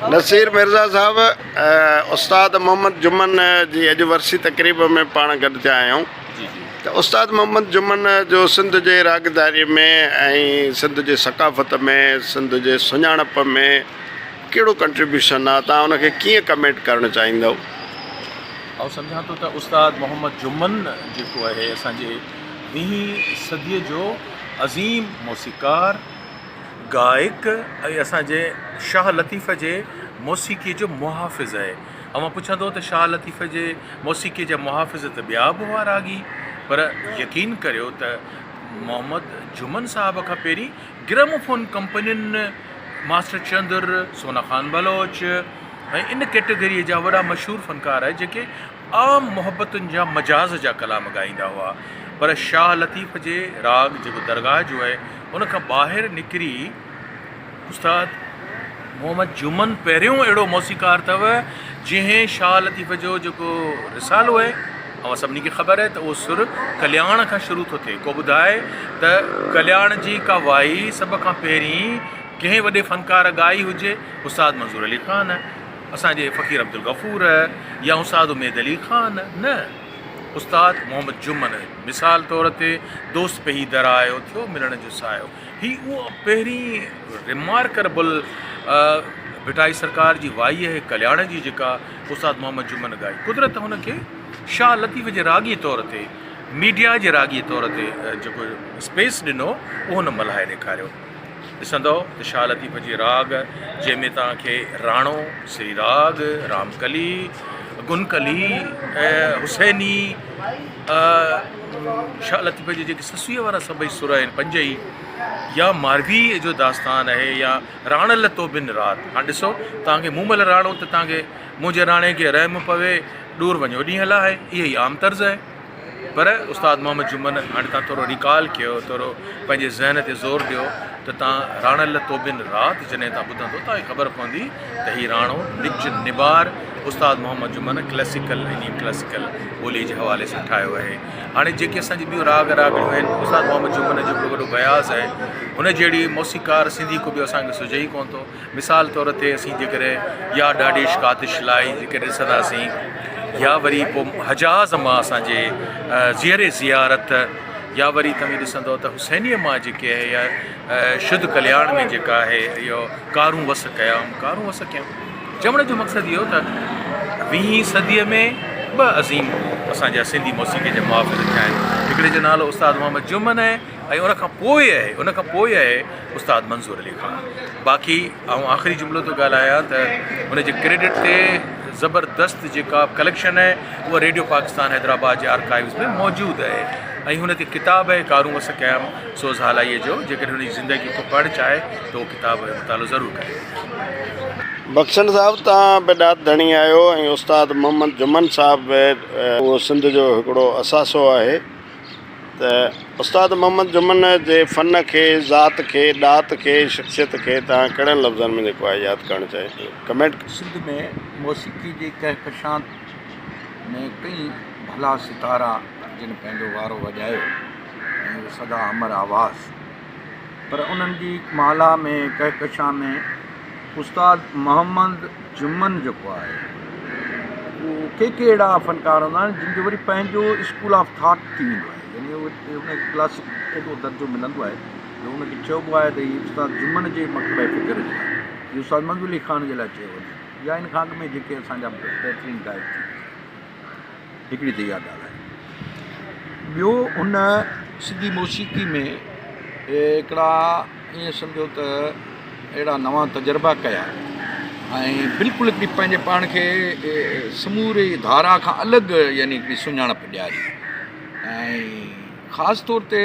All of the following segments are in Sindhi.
نصير مرزا صاحب استاد محمد جمن جي اڄ ورسي تقريب ۾ پاڻ گڏ ٿيا آهيون ته استاد محمد جمن جو سنڌ جي راڳداري ۾ ۽ سنڌ جي ثقافت ۾ سنڌ جي سڃاڻپ ۾ ڪهڙو ڪنٽريبيوشن آهي تان ان کي ڪيئن ڪمينٽ ڪرڻ چاهيندو آئون سمجھان ٿو ته استاد محمد جمن جيڪو آهي اسان جي ويهين صديء جو عظيم موسيقار گائڪ ۽ اسان جي شاهه لطيف جي موسيقي جو محافظ اهي اوهان پڇندو ته شاهه لطيف جي موسيقي جا محافظ ته ٻيا به هئا راڳي پر يقين ڪريو ته محمد جهمن صاحب کان پهرين گرم فون ڪمپنين ماسٽر چندر سونا خان بلوچ ۽ ان ڪيٽيگري جا وڏا مشهور فنڪار آهي جيڪي عام محبتن جا مجاز جا ڪلام ڳائيندا هئا پر شاهه لطيف جي راڳ جيڪو درگاهه جو هي ان کان ٻاهر نڪري استاد محمد جمن پهريون اهڙو موسيقار اٿو جنهن شاهه لطيف جو جيڪو رسالو هي اوهان سڀني کي خبر هي ته اهو سر ڪلياڻ کان شروع ٿو ٿئي ڪو ٻڌائي ته ڪلياڻ جي ڪا وائي سڀ کان پهرين ڪنهن وڏي فنڪار ڳائي هجي استاد منظور علي خان اسان جي فقير عبدالغفور يا استاد اميد علي خان نه، استاد محمد جمن مثال طور تي دوست پهي درايو ٿيو ملڻ جو سايو. هي اهو پهرين ريمارڪربل ڀٽائي سرڪار جي وائي اهي ڪلياڻ جي جيڪا استاد محمد جمن ڳائي. قدرت هن کي شاهه لطيف جي راڳي طور تي ميڊيا جي راڳي طور تي جيڪو اسپيس ڏنو اهو هن ملهائي ڏيکاريو. ڏسندؤ ته شاهه لطيف جي راڳ جنهن ۾ توهان کي راڻو، سري راڳ، رام ڪلي، گن ڪلي ۽ حسيني شاهه لطيف جي جيڪي سسويء وارا سڀئي سر آهن پنج ئي يا مارويء جو داستان آهي يا راڻ لتو بن رات هاڻ ڏسو توهان کي مون مل راڻو ته توهان کي منهنجي راڻي کي رحم پوي ڏور وڃو ڏينهن لاهي اهي ئي عام طرز آهي. پر استاد محمد جمن هاڻي تان ٿورو ريڪال ڪيو ٿورو پنهنجي ذهن تي زور ڏيو ته تان راڻل توبين رات جڏهن تان ٻڌندو تان کي خبر پوندي ته هي راڻو نچ نبار استاد محمد جمن ڪلاسيڪل ۽ نيم ڪلاسيڪل ٻولي جي حوالي سان ٺاهيو آهي هاڻي جيڪي اسان جي ٻيون راڳ راڳڻيون آهن استاد محمد جمن جو ڪو وڏو بياض آهي هن جهڙي موسيقار سنڌي ڪو ٻيو اسان کي سجهي ئي ڪونه ٿو مثال طور تي اسين جيڪڏهن يا ڏاڙهيش ڪاتش لاء جيڪڏهن ڏسنداسين يا وري پوء حجاز مان اسان جي زيئر زيارت يا وري توهين ڏسندو ته حسينيء مان جيڪي اهي يا شد ڪلياڻ ۾ جيڪا اهي اهو ڪارون وس ڪيائون ڪارون وس ڪيائون چوڻ جو مقصد اهو ته ويهين صديء ۾ ٻه عظيم اسان جا سنڌي موسيقي جا محافظ ٿيا آهن هڪڙي جو نالو استاد محمد جمن ۽ ان کان پوء آهي ان کان پوء آهي استاد منظور علي خان باقي آئون آخري جملو ٿو ڳالهايان ته ان جي ڪريڊٽ تي زبردست جيڪا ڪليڪشن آهي اها ريڊيو پاڪستان حيدرآباد جي آرڪائيوز ۾ موجود آهي ۽ هن تي ڪتاب آهي ڪارون وس قيام سوز هالائيء جو جيڪڏهن هن جي زندگي کو پڙهڻ چاهي ته اهو ڪتاب جو مطالعو ضرور ڪري بخشڻ صاحب تان به ڏات ڌڻي آهيو ۽ استاد محمد جمن صاحب به اهو سنڌ جو هڪڙو اثاثو آهي. ته استاد محمد جمن جي فن کي، ذات کي، ڏات کي، شخصيت کي توهان ڪهڙن لفظن ۾ جيڪو آهي ياد ڪرڻ چاهيندو؟ ڪمينٽ ڪيو. سنڌ ۾ موسيقي جي ڪهڪشان ۾ ڪئين ڀلا ستارا جن پنهنجو وارو وڄايو ۽ اهو سدا امر آواز پر انهن جي مالها ۾ ڪهڪشان ۾ استاد محمد جمن جيڪو آهي اهو ڪي ڪي اهڙا فنڪار هوندا آهن جن جو وري پنهنجو اسڪول آف ٿاٽ ٿي ويندو آهي يعني اهو ان کي ڪلاسڪ اهڙو درجو ملندو آهي جو ان کي چئبو آهي ته هي استاد جمن جي مڪتبه فڪر جو آهي اهو استاد منظور علي خان جي لاء چيو وڃي ٿو يا ان کان اڳ ۾ جيڪي اسان جا بهترين گائڪ ٿي هڪڙي ته اها ڳالهه آهي. ٻيو ان سنڌي موسيقي ۾ هڪڙا ائين سمجهو ته اهڙا نوان تجربا ڪيا ۽ بلڪل هڪڙي پنهنجي پاڻ کي سموري ڌارا کان الڳ يعني هڪڙي سڃاڻپ ڏياري ۽ خاص طور تي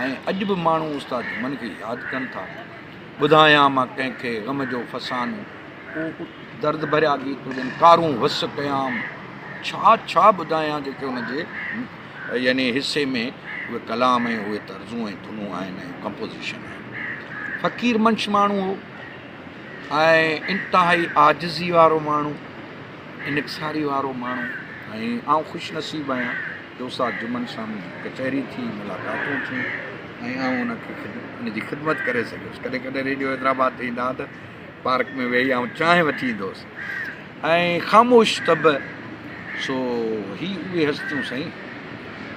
۽ اڄ به ماڻهو استاد جمن کي ياد ڪن ٿا. ٻڌايان مان ڪنهن کي غم جو فسانو. ڪو ڪو درد ڀريا گيت هجن، ڪارون هس ڪيام. ڇا ڇا ٻڌايان جيڪي ان جي يعني حصي ۾ اهي ڪلام ۽ اهي طرزون ۽ ڌنون آهن ۽ ڪمپوزيشن آهي. فقير منش ماڻهو هو ۽ انتهائي عاجزي وارو ماڻهو. انڪساري وارو ماڻهو ۽ آئون خوش نصيب آهيان جو استاد جمن سان ڪچهري ٿي، ملاقاتون ٿيون ۽ آئون ان کي ان جي خدمت ڪري سگهيس. ڪڏهن ڪڏهن ريڊيو حيدرآباد تي ايندا ها ته پارڪ ۾ ويهي آئون چانهه وٺي ايندو هوس ۽ خاموش طبع سو هي اهي هستيون سائين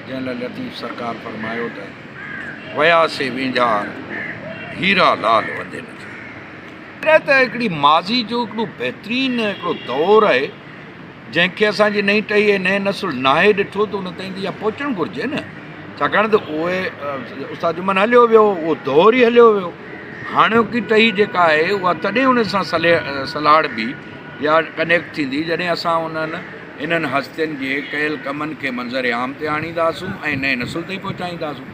جنهن لاء لطيف سرڪار فرمايو ته ويا سي وينجهار هيرا لال وندي نه ٿيو. اهو ته هڪڙي ماضي جو هڪڙو بهترين هڪڙو دور آهي جنهن کي اسان جي نئين ٽهي ۽ نئين نسل ناهي ڏٺو ته ان تائين ته اها پهچڻ گهرجي نه ڇاڪاڻ ته اهي استاد جمن هليو ويو اهو دور ئي هليو ويو هاڻوڪي ٽهي جيڪا آهي اها تڏهن ان سان سلهاڙبي يا ڪنيڪٽ ٿيندي جڏهن اسان انهن انهن هستين جي ڪيل ڪمن کي منظر عام تي آڻينداسون ۽ نئين نسل تائين پهچائينداسون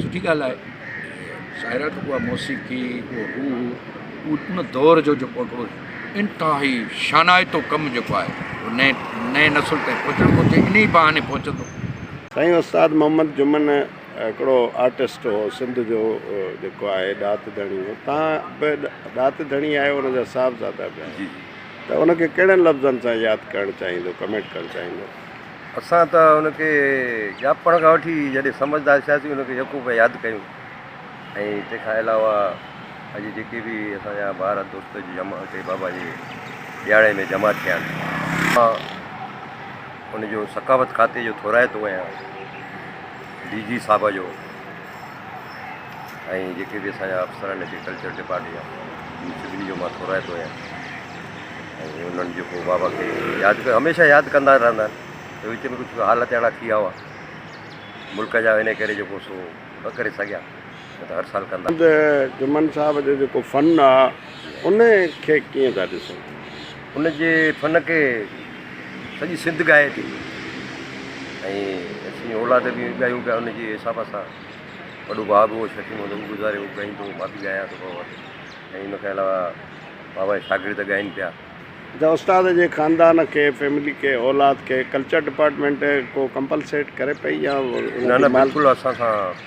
سٺي ڳالهه آهي شاعراڻو ڪو اها موسيقي ڪو هو هو ان دور جو جيڪو هو انتهائي شانائتو ڪم جيڪو آهي هو نئين نئين نسل تائين پهچڻ گهرجي ان ئي بهاني پهچندو. سائين استاد محمد جمن هڪڙو آرٽسٽ هو سنڌ جو جيڪو آهي ڏات ڌڻي هو تان به ڏات ڌڻي آهي ان جا صاحبزادا به آهن ته ان کي ڪهڙن لفظن سان ياد ڪرڻ چاهيندو ڪمينٽ ڪرڻ چاهيندو. اسان ته هن کي ڄاپڻ کان وٺي جڏهن سمجهدار ٿياسين هن کي يڪو پيا ياد ڪيون ۽ تنهن کان علاوه اڄ جيڪي به اسان جا ٻار دوست جمع هتي بابا جي ڏيهاڙي ۾ جمع ٿيا آهن مان ان جو ثقافت کاتي جو ٿورائتو ڪيان ڊي جي صاحب جو ۽ جيڪي به اسان جا افسر آهن هتي ڪلچر ڊپارٽمينٽ جا ان سڀني جو مان ٿورائتو آهيان ۽ انهن جيڪو بابا کي ياد ڪيو هميشه ياد ڪندا رهندا آهن وچ ۾ ڪجهه حالت اهڙا ٿي ويا هئا ملڪ جا ان ڪري جيڪو سو نه ڪري سگهيا نه ته هر سال ڪندا جمن صاحب جو جيڪو فن آهي ان کي ڪيئن ٿا ڏسو ان جي فن کي سڄي سنڌ ڳائي ٿي ۽ اسين اولاد به ڳايون پيا ان جي حساب سان وڏو ڀاء به شڪيم هوندو هو گذاري هو ڳائيندو هو ڀاڀي ڳايان ٿو پيو ۽ ان کان علاوه بابا جا شاگرد ڳائين پيا اچا استاد جي خاندان کي فيملي کي اولاد کي ڪلچر ڊپارٽمينٽ ڪو ڪمپلسيٽ ڪري پئي يا نه نه بلڪل اسان سان